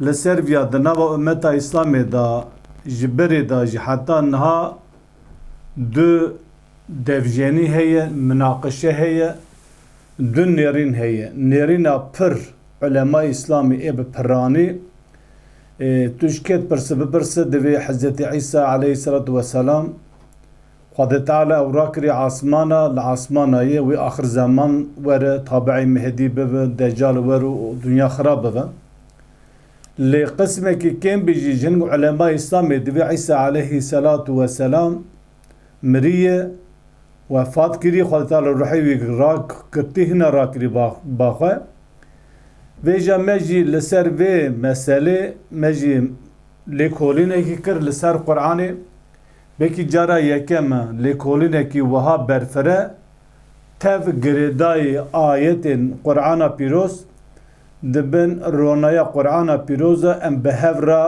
Li Servya di nava ummeta Îslamê de ji berê de jî heta niha du devjenî heye, minaqişe heye, du nêrîn heye. Nêrîna pir ulema Îslamê ê bi piranî tu ji kê dipirsî bipirse divê Hezretî Îsa eleyhî selatû weselam Xwedê Teala ew rakirî asmana li asmana yê wê axir zeman were tabi'ê Mehedî bibe Decal wer û dinya xirab bibe. Lê qismekî kêm bî jî ji hin ku ulemayê îslamê divê Îsa aleyhî selatu we selam miriye, wefat kiriye Xwedê Teala ruhê wî rak girtî hîna rakirî ba xwe. Vêja me jî li ser vê meselê me jî lêkolînekî kir li ser Quranê. Belkî cara yekem e lêkolînekî wiha berfireh tev girêdayî ayetên Qur'ana Pîroz di bin ronaya Qur'ana Pîroz de em bi hev re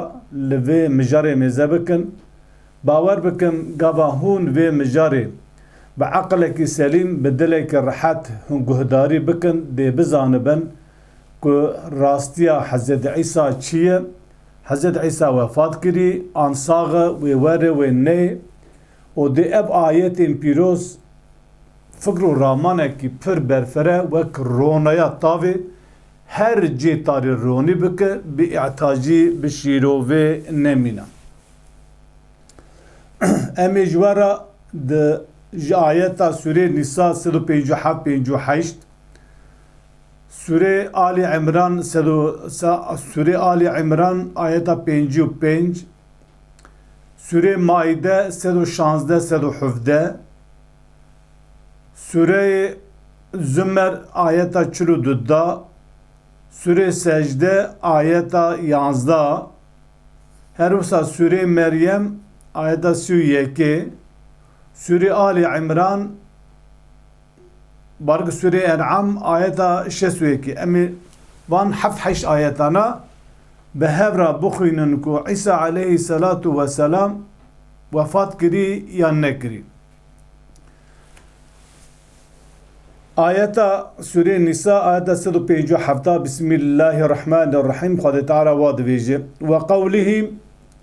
li vê mijarê mêze bikin. Bawer bikin gava hûn vê mijarê bi eqilekî selîm, bi dilekî rehet hûn guhdarî bikin dê bizanibin ku rastiya Hezretî Îsa çi ye Hezret Îsa wefat kirî, an sax e, wê were, wê nê. Û dê ev ayetên pîroz fikr û ramanekî pir berfire wek ronaya tavê her cê tarê ronî bike, bi îhtacî, bi şîrovê nemîne. Em ê ji we re di ji ayeta sûreyê Nîsa sed û pêncî û heft pêncî û heşt, Sûrê Alî Îmran sed û Sûrê Alî Îmran ayeta pêncî û pênc Sûrê Maîde sed û şazdeh sed û hevdeh Sûreyê Zumer ayeta çil û du da Sûrê Secde ayeta yanzda Her wisa Sûrê Meryem ayeta sî û yekê Sûrê Alî Îmran Barg Sûreyê En'am ayeta şêst û yekê. Em ê van heft heşt ayetana bi hev re bixwînin ku Îsa aleyhî selatû we selam wefat kirî yan nekirî. Ayeta Sûreyê Nîsa ayeta sed û pêncî û heft a Bismîllahî Rehmanî Rehîm Xwedê Teala wa dibêje, Weqewlihî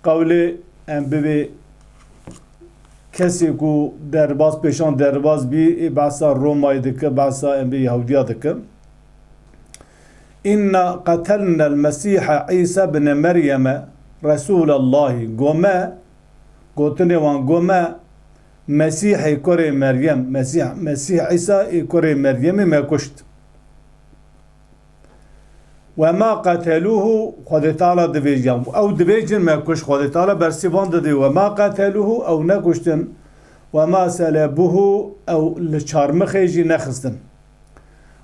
Qewlê em bibê kesê ku derbas pêşan derbas bî ê behsa Romayê dike, behsa em bê Yehudiya dike. İnna qetelnel Mesîhe İsa bne Meryeme Resûlellahî gome gotinê wan gome Mesîhê kurê Meryem Mesîh Mesîh İsa ê kurê Meryemê me kuşt. Ve ma qetelûhu Xwedê Teala divêjî yan ku ew dibêjin me kuş Xwedê Teala bersî van didî Ve ma qetelûhu ew nekuştin Ve ma selebûhu ew li çarmixê jî nexistin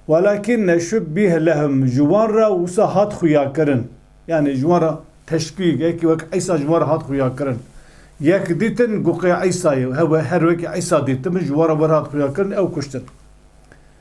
Welakînne şubbîhe lehum ji wan re wisa hat xuyakirin yanî ji wan re teşbîh yekî wek Îsa ji wan re hat xuyakirin yek dîtin goqê Îsayê her wekî Îsa dîtibin ji wan re wir hat xuyakirin ew kuştin.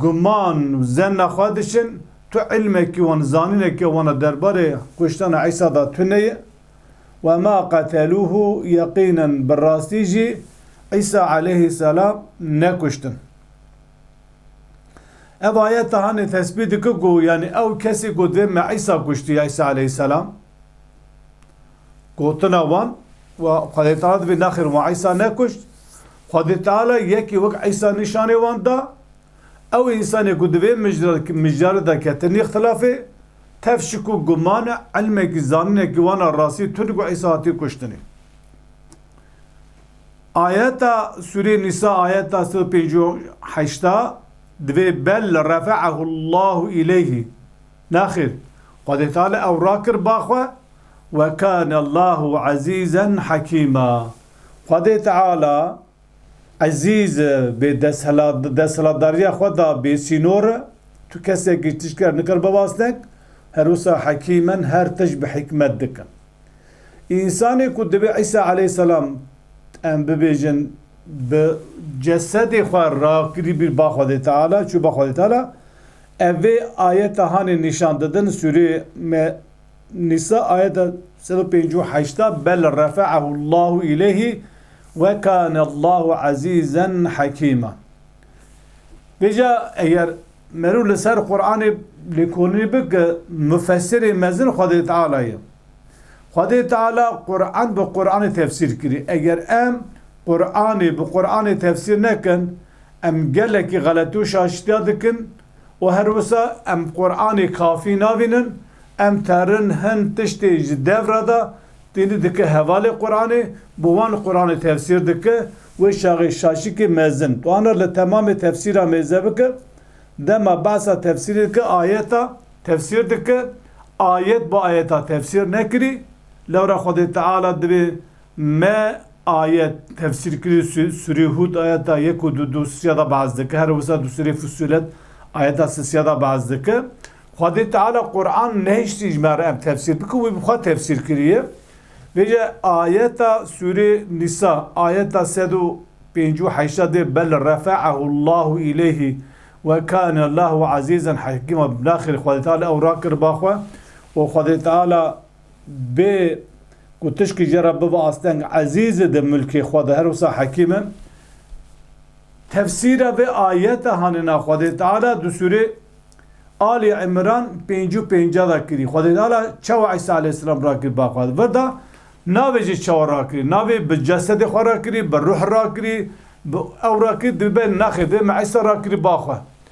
Guman û zenna xwe diçin, tu îlmekî wan, zanînekî wan a derbarê kuştana Îsa da tuneye. Ve ma qetelûhû, yeqînen bi rastî jî Îsa eleyhîsselam nekuştin. Ev ayet hanê tespît dike ku yanî ew kesî ku dê me Îsa kuştiye, Îsa eleyhîsselam. Gotina wan, Xwedê tawa dibî nexir wan Îsa nekuşt, Xwedê Teala yekî wek Îsa nîşanê wan da, ew însanê ku di vê mijara de ketin îxtilafê, tev şikûk, guman e, îlmekî, zaninekî wana rastî tund ku Îsa hatî kuştinê. Ayeta Sûreyê Nîsa ayeta sed û pêncî û heşta divê bel refe'ehullahu îleyhî, nexêr, Xwedê Teala ew rakir ba xwe, Wekânellâhu ezîzen hekîma, Xwedê Teala ezîz e, bê desthilatdariya xwe da bêsînor e, tu kesekî tişt ker nikir bivasnek, her wisa hekîmen her tişt bi hikmet dikin. Însanê ku divê Îsa aleyhisselam em bibêjin bi cesedê xwe ra kirîbî ba Xwedê Teala, çû ba Xwedê Teala, ev vê ayeta hanê nîşan didin sûrê Nîsa ayet a sed û pêncî û heşt a Bel refe'ehu Llahu îleyhî ve kâne Llahu ezîzen hekîma. Bêje eger merû li ser Quranê lêkolînê bike mufesirê mezin Xwedê Teala ye. Xwedê Teala Quran bi Quranê tefsîr kirî. Eger em Quranê bi Quranê tefsîr nekin em gelekî xeletî û şaşîtiya dikin Û her wisa em Quranê kafî navînin, em terin hin tiştê ji dev re de tîni dike hevalê Quranê, bi wan Quranê tefsîr dike, wê şaxê şaşikê mezin tuana li temamê tefsîra mêze bike, dema behsa tefsîrê dike ayeta tefsîr dike, ayet bi ayeta tefsîr nekirî, lewra Xwedê Teala dibê Me ayet tefsîr kirî sûrê hûd ayeta yek û du du sîya da behs dike here wisa du sûrê fusûlet ayeta si sîya da behs dike xwedê teala quran nehiştî ji me re em tefsîr bike wî bi xwe tefsîr kiriye vêje ayeta sûrê nîsa ayeta sed û pêncî û heşta dê bel refe'ehu llahu îleyhî we kane llahu ezîzen hekîma bi naxir xwedê teala ew rakir ba xwe û xwedê teala Bê ku tişkî jê re bibe asteng Ezîzê di milkê xwe de her wisa hekîm e. Tefsîra vê ayete hanêna Xwedê Teala di sûrê Alî Îmran pêncî û pêncî de kirî. Xwedê Teala çawa Îsa aleyhîsselam rakirî ba xwe vir da, navê jî çawa rakirî. Navê bi cesedê xwe rakirî, bi ruh rakirî, bi ew rakirî dibe nexê vê me Îsa rakirî ba xwe.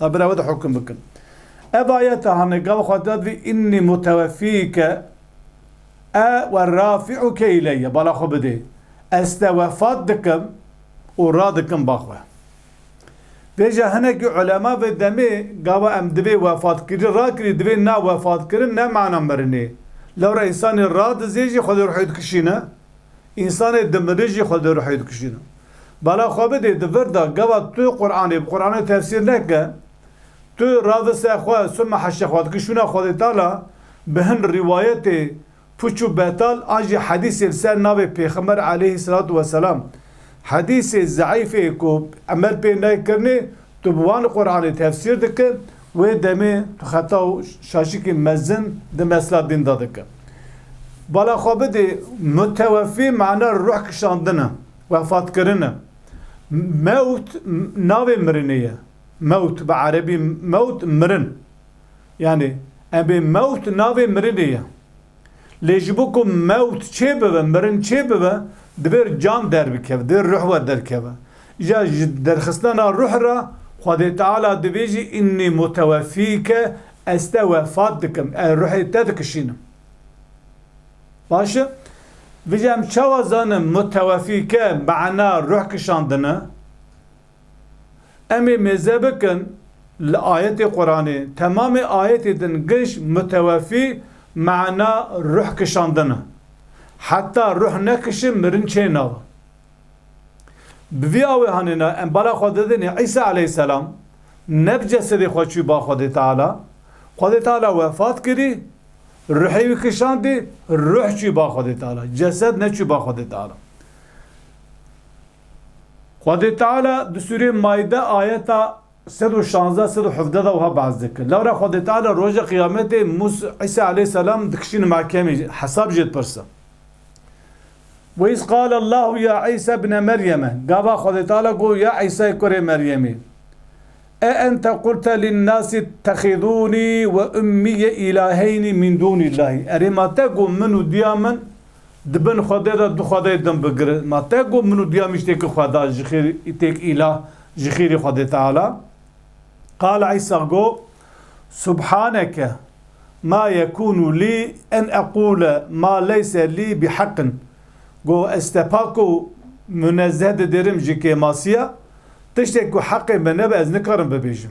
Ew bila we de hukm bikin. Ev ayete hane gava xwe dad vê Înnî mutewefîke e we rafî'uke îleyye bala xwe bidê Ez te wefat dikim û radikim ba xwe. Vê jî hinekî ulema vê demê gava em divê wefatkirî rakirî divê na wefatkirin ne mana mirinê. Lewra însanê radizê jî xwedê ruhê dikişîne. Însanê dimirî jî xwe di ruhê dikuşîne. Bala xwe bidê di vir de gava tu Quranê bi Quranê tefsîr neke, tu ravi ser xwe suma heşê xwe dike şûna Xwedê Teala bi hin rîwayetê puç û betal an jî hedîsê li ser navê Pêxember eleyhî selatu weselam Hedîsê zeîfê ku emel pê nayê kirinê, tu bi wan Quranê tefsîr dike, wê demê tu xeta û şaşikî mezin di mesela dîn de dike. Bala xwe bidê, mutewefî mana ruh kişandin e, wefatkirin e. Mewt navê mirinê ye. Mewt bi erebî mewt mirin. Yanî, em bê mewt navê mirinê ye. Lê ji bo ku mewt çê bibe, mirin çê bibe, divê can derbikeve, divê ruh we derkeve. Îja ji derxistina ruh re Xwedê Teala dibêjî Înnî mutewefîke, ez te wefat dikim, ez ruhê te dikişînim. Baş e? Vijî em çawa zanin mutewefîke mana ruh kişandin e? Em ê mêze bikin li ayetê Quranê. Temamê ayetê din giş mutewefî mana ruh kişandin e. Heta ruh nekişin mirin çê nawe. Bi vî awê hanêna em bala xwe didinê Îsa eleyhîsselam ne bi cesedê xwe çû ba Xwedê Teala. Xwedê Teala wefat kirî, ruhê wî kişandî, ruh çû ba Xwedê Teala. Cesed neçû ba Xwedê Teala. Xwedê Teala di sûreyê Maîde ayeta sed û şazdeh sed û hevdeh de wiha behs dike, Lewra Xwedê Teala rojê qiyametê Mûs Îsa aleyhîsselam dikişîne mehkemê jî, hesab jê dipirse. Ve îz qale Allahu ya Îsa bne Meryeme, gava Xwedê Teala got ya Îsayê kurê Meryemî, E ente qulte linnasî ittexîzûnî we ummîye îlaheynî mîn dûnîllahî, erê ma te got min û diya min Di bin xwedê de du xwedeyê din bigirin. Ma te got min û duya miştêkî xwe da ji xêr îtêk îlah ji xêrî xwedê teala. Qala Îsa got, Subhaneke ma yekûnû lî en eqûle ma leyse lî bi heqin. Got ez te pak û munezzeh didêrim ji kêmasiya. Tiştê ku heqê min nebe ez nikarim bibêjim.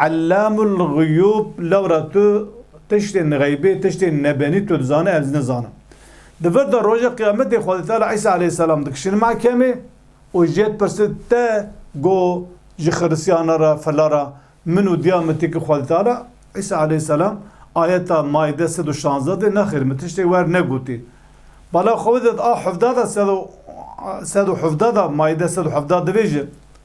Ellamul Guyûb lewra tu tiştên xeybê, tiştên nebenî tu dizanî ez nizanim. Di vir de rojê qiyametê Xwedê Teala Îsa aleyhîsselam dikişin mehkemê û ji yê dipirsî te go ji xirisiyanan re fila re min û diya min tê ki Xwedê Teala Îsa aleyhîsselam ayeta Maîde sed û şanzdeh de nexêr min tiştê wer negotî bala Xwedê a hevdeh de sed û hevdeh de Maîde sed û hevdeh dibêje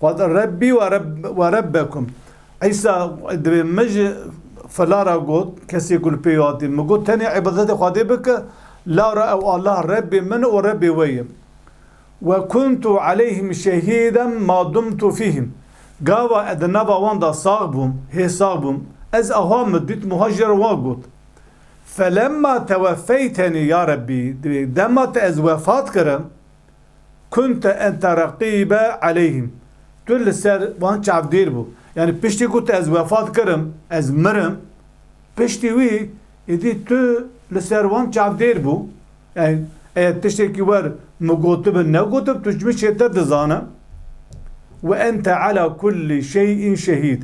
Xwed Rebbî we Rebbekum. Îsa dibê min ji fela re got, kesê ku li pê hatî min got tenê îbadetê Xwedê bike, lawra ew Allah Rebbê min û Rebbê we ye. Ve kuntu aleyhim şehîden ma dumtu fîhim. Gava ez di nava wan de sax bûm, hê sax bûm, ez awa min dît wiha ji wan got, Felemma teweffeyteni ya Rebbî, dibê dema te ez wefat kirim, Kunte ente reqîbe aleyhîm, tu li ser wan çavdêr bû. Yanî piştî ku tu ez wefat kirim, ez mirim, piştî wî êdî tu li ser wan çavdêr bû. Yanî eger tiştekî wer min gotibin negotib tu ji min çêtir dizane. Ve ente ala kullî şey'in şehîd,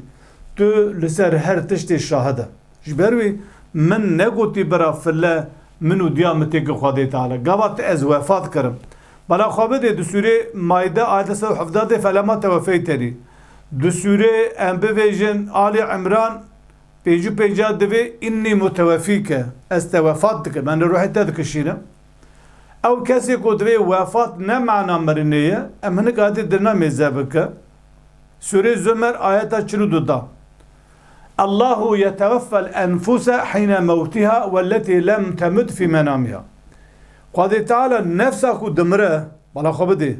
tu li ser her tiştê şahid e. Ji ber wî min negotî bira file Min û diya min têke xwe dê tale. Gava tu ez wefa dikerim. Bela xwe bidê di sûrê Maide ayete sed û hevdeh de felema tewefeyteni. Di sûrê Em bivêjin, Alî Îmran, pêncî û pêncah de vê Înnî mutewefîke, ez te wefat dikim, em li ruhê te dikişînim. Ew kesê ku divê wefat ne mana mirinê ye, em hinek adê dil namê zevike. Sûrê Zümer ayeta çil û du da. Allahu yeteweffel enfuse hîne mewtiha welletî lem temut fî menamiha. Xwedê Teala nefsa ku dimire bala xwe bidê.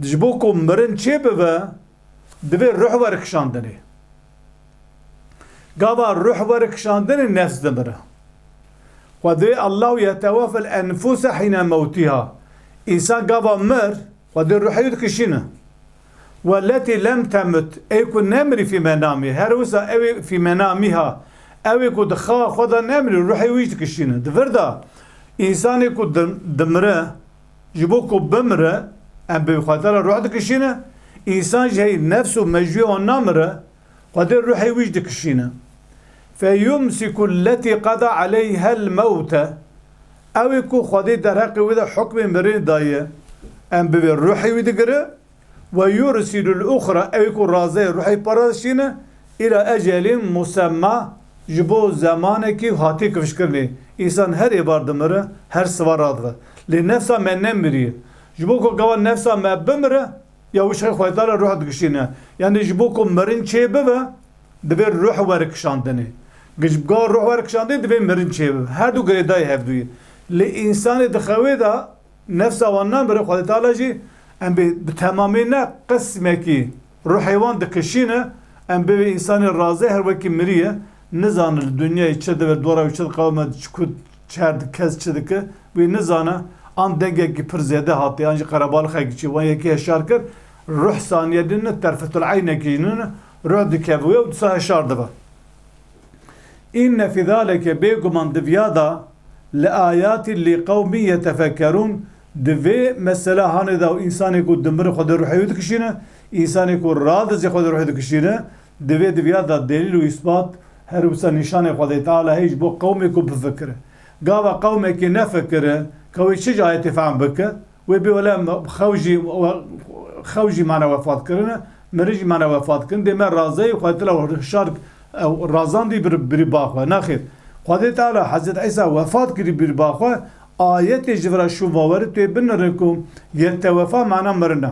Ji bo ku mirin çêbibe divê ruh were kişandinê. Gava ruh were kişandinê nefs dimire. Xwedê Allahu yeteweffel enfuse hîne mewtiha. Însan gava mir xwedê ruhê wî dikişîne. Welletî lem temut, ê ku nemirî fîmena mî, her wisa ewê fîmena mî ha. Ewê ku di xewa xwe de nemirî, ruhê wî jî dikişîne. Di vir de, însanê ku dimire, ji bo ku bimire, em bi wî xatir re ruh dikişînin, însan jî heyî nefs û mejûyê wan namire, Xwedê ruhê wî jî dikişîne. Feyumsiku lletî qeda eleyhel mewte, Ew ê ku Xwedê derheqê wê de hukmê mirinê daye, em bi vê ruhê wî digire, Ve yursilul uxra, Ew ê ku razeyê ruhê para dişîne, îla ecelin musemma, ji bo zemanekî hatî kifşkirinê. Însan her êvar dimire, her siva radibe. Lê nefsa me nemiriye. Ji bo ku gava nefsa me bimire, Ya wişxê xwezayê ruh digişîne. Yanî ji bo ku mirin çê bibe divê ruh were kişandinê. Gijbga ruh were kişandinê divê mirin çê bibe. Her du girêdayî hevduyê. Lê însanê di xewê de nefsa wan namire Xwedê Teala jî em bê bi temamî ne qismekî ruhê wan dikişîne em bê wê însanê razê her wekî mirî ye nizane li dinyayê çi dibe dora wî çi diqewime çi ku Çer di kes çi dike wê nizane, an dengekî pir zêde hate an jî qerebalixekî çi wan yekî heşar kir, ruh saniye din ne terfetul eynekî jî nine, ruh dikeve wê û disa heşar dibe. Înne fî zalike bêguman di viya da li ayatî lî qewmî yetefekerûn di vê mesele hanê da û însanê ku dimire xwe di ruhê wî dikişîne, însanê ku radizê xwe di ruhê dikişîne Di vê di vîya de delîl û îsbat her wisa nîşanê Xwedê Teala'yê ji bo qewmê ku bifikire. Gava qewmekê nefikire ka wê çi ji ayetê fehm bike, wê bê wele xew jî xew jî mane wefat kirine, mirin jî mane wefat kirin, dê me razeyê Xwedê Teala û hişar ew razandî bi bi ba xwe. Nexêr. Xwedê Teala Hezret Îsa wefat kirî bi ba xwe, ayetê ji vira şûn va were tu yê binire ku yete wefa mana mirin e.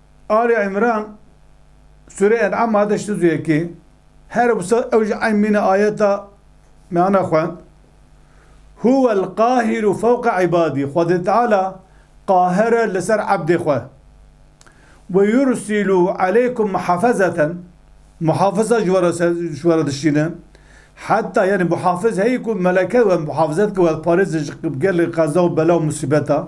Ali Îmran Sûreyê En'am hate ji tizûyekê. Her wisa ew ji eyn mîna ayeta meyana xwend. Huwel qahîru fewqa îbadî, Xwedê Teala qaher e li ser ebdê xwe. Ve yursilû eleykum muhafezeten, Muhafiza ji we re ji we re dişîne. Heta yanî muhafiz heye ku meleke we muhafizet bike, we parêzin ji gelê qeza û bela û musîbeta.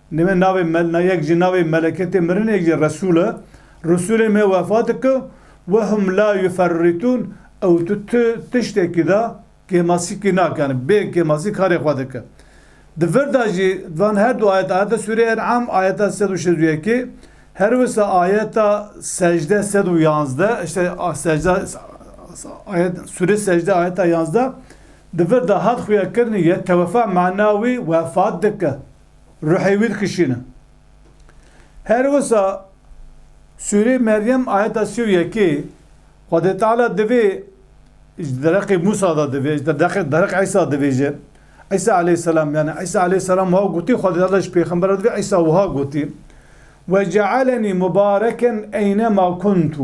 Lê me navê mel na yek jî navê meleketê mirinê yek jî Resul e. Resulê me wefat dike we hum la yuferritun ew tu ti tiştekî de kêmasîkî nakin bê kêmasî karê xwe dike. Di vir de jî di van her du ayet ayeta sûrê En'am ayeta sed û şêz û yekê her wisa ayeta secde sed û yanzde işte secde ayet sûrê secde ayeta yanzde di vir de hat xuya kirinî ye tewefa mana wî wefat dike. Ruhê wî dikişîne. Her wisa sûrê Meryem ayeta sî û yekê Xwedê Teala divê ji dereqê Mûsa de divê ji dereqê Îsa dibêje Îsa eleyhselam yanî Îsa eleyhselam wiha gotî Xwedê Teala ji pêxemberan divê Îsa wiha gotî Wecaelenî mubareken eynema kuntu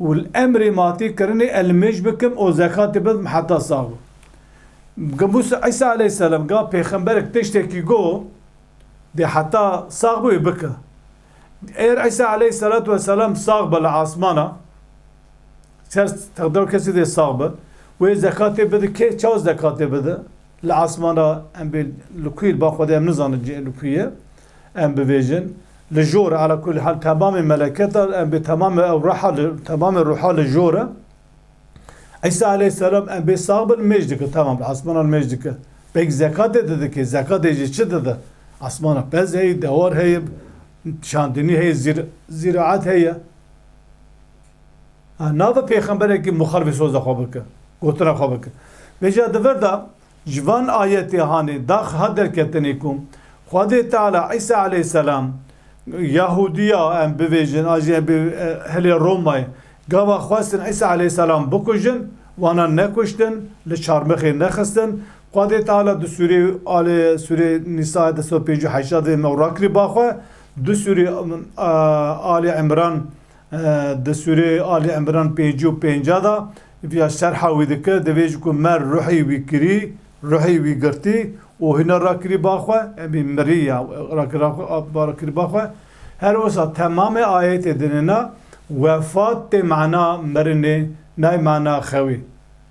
û li emrê matê kirinê ez li mêj bikim û zekatê bidim heta sax bûm. Ga Mûsa Îsa aleyhîsselam ga pêxemberek tiştekî got dê heta sax bû wê bike. Eger Îsa aleyhîsselatu weselam sax be li asmana ser teqdira kesê dê sax be wê zekatê bide kê çawa zekatê bide li asmana em bê li kû ye li ba Xwedê em nizanin cihê li kû ye. Em bibêjin, li jor e, ala kulî hal temamê meleket a, em bê temamê ew reha li, temamê ruha li jor e. Îsa aleyhisselam em bê sax bin mêj dike, temam li asmanan mêj dike. Pêk zekatê didikê, zekatê jî çi dide? Asmana pez heye, dewar heye, şandinî heye, zîr, zîraet heye. Ha, nabe pêxemberekî muxalifê soza xwe bike, gotina xwe bike. Bêje di vir de Ji van ayetê hanê dax hat derketinê ku Xwedê Teala Îsa eleyhselam Yahudiya em bivêjin an jî hilê Romayê gava xwestin Îsa eleyhselam bikujin wana nekuştin li çarmixê nexistin Xwedê Teala di sûrê alê sûrê Nîsayê du sed û pêncî û heştad vê me rakirî baxwe du sûrê alê Îmran Di sûrê Alî Îmran pêncî û pênca de vîya şerha wî dike, Divê ji ku me ruhî wî kirî, ruhî wî girtî û hûna rakirî ba xwe, emî mirî ya rakirî ba xwe. Her wisa temamê ayetê dine na, wefat tê mana mirinê, nayê mana xewê.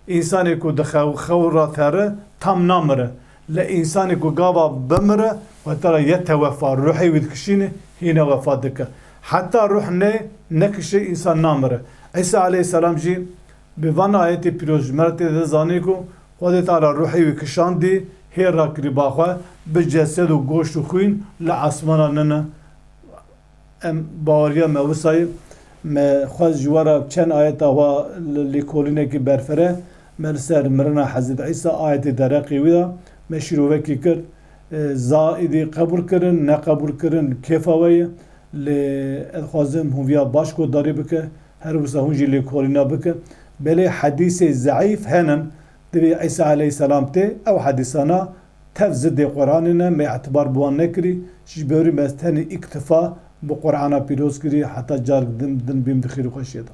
Însanê ku dixew, xew ra teri, tam namire. Lê însanê ku gava bimire weta re ye tewefa, ruhê wî dikişîne, hîna wefa dike. Heta ruh neyê, nekişe însan namire. Îsa aleyhîsselam jî bi van ayetê pîroz ji me re tê de zanîn ku Xwedê Teala ruhê wî kişandî, hê rakirî ba xwe, bi cesed û goşt û xwîn li esmanan nin e. Em baweriya me wisa ye. Me xwest ji we re çend ayeta xwe li lêkolînekê berfire. Me li ser mirina Hezreti Îsa ayetê dereqê wî da. Me şîrovekê kir. Za êdî qebûl kirin, neqebûl kirin kêfa we ye. Lê ez dixwazim hûn viya baş guhdarî bike. Her wisa hûn jî lêkolîna bike. Belê hedîsê zeîf hene. Divê Îsa eleyhîsselam tê ew hedîsana Tev zi dê Quranê ne mê etibar bi wan nekirî, ji ber wî me ez tenê îktifa bi Qurana pîroz kirî heta carek din din bîm di xêr û xweşiyê de.